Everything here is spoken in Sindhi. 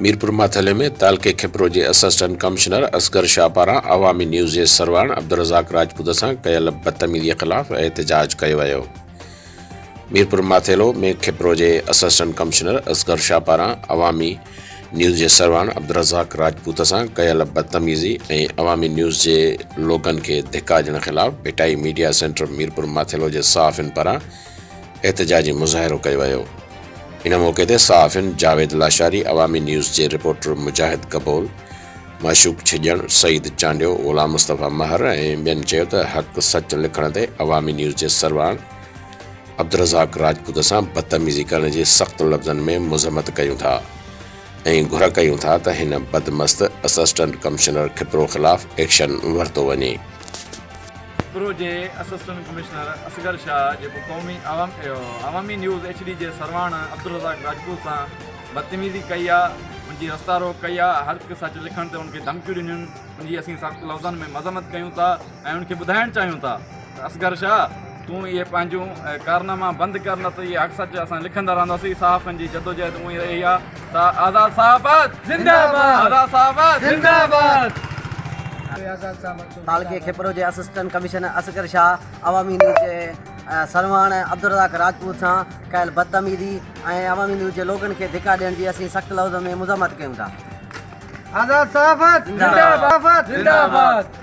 ميرپورماٿيلي ۾ تعلقي کپرو جي اسسٽنٽ ڪمشنر اصغر شاهه پاران عوامي نيوز جي سرواڻ عبدالرزاق راجپوت سان ڪيل بدتميزي خلاف احتجاج ڪيو ويو. ميرپورماٿيلو ۾ کپرو جي اسسٽنٽ ڪمشنر اصغر شاهه پاران عوامي نيوز جي سرواڻ عبدالرزاق راجپوت سان ڪيل بدتميزي ۽ عوامي نيوز جي لوگن کي ڌڪا ڏيڻ خلاف ڀٽائي ميڊيا سينٽر ميرپورماٿيلو جي صحافين پاران احتجاجي مظاهرو ڪيو ويو. ان موقعي تي صحافين جاويد لاشاري، عوامي نيوز جي رپورٽر مجاهد ڪبول، معشوق ڇڄڻ، سعيد چانڊيو، غلام مصطفيٰ مهر ۽ ٻين چيو ته حق سچ لکڻ تي عوامي نيوز جي سرواڻ عبدالرزاق راجپوت سان بدتميزي ڪرڻ جي سخت لفظن ۾ مذمت ڪيون ٿا ۽ گهر ڪيون ٿا ته هن بدمست اسسٽنٽ ڪمشنر کپرو خلاف ايڪشن ورتو وڃي. پرو جي اسسٽنٽ ڪمشنر اصغر شاهه جيڪو قومي عوامي نيوز ايڇ ڊي جي سرواڻ عبدالرزاق راجپوت سان بدتميزي ڪئي آ ان جي رستا روڪ ڪئي آ هر هڪ سچ لکڻ تي ان کي ڌمڪيون ڏنيون ان جي اسين سخت لفظن ۾ مذمت ڪيون ٿا ۽ ان کي ٻڌائڻ چاهيون ٿا ته اصغر شاهه تون اهي پنهنجون ڪارناما بند ڪر نه ته اهي حق سچ اسان لکندا رهنداسين صحافين جي جدوجهد اونهي ئي رهي آ ته آزاد صحافت زنده باد آزاد صحافت زنده باد آزاد صحافت تعلقي کيپرو جي assistant commissioner Asghar Shah Awami News جي سرواڻ عبدالرزاق راجپوت سان ڪيل بدتميزي ۽ عوامي نيوز جي لوگن کي ڌڪا ڏيڻ جي اسين سخت لفظن ۾ مذمت ڪيون ٿا. آزاد صحافت زنده باد زنده باد.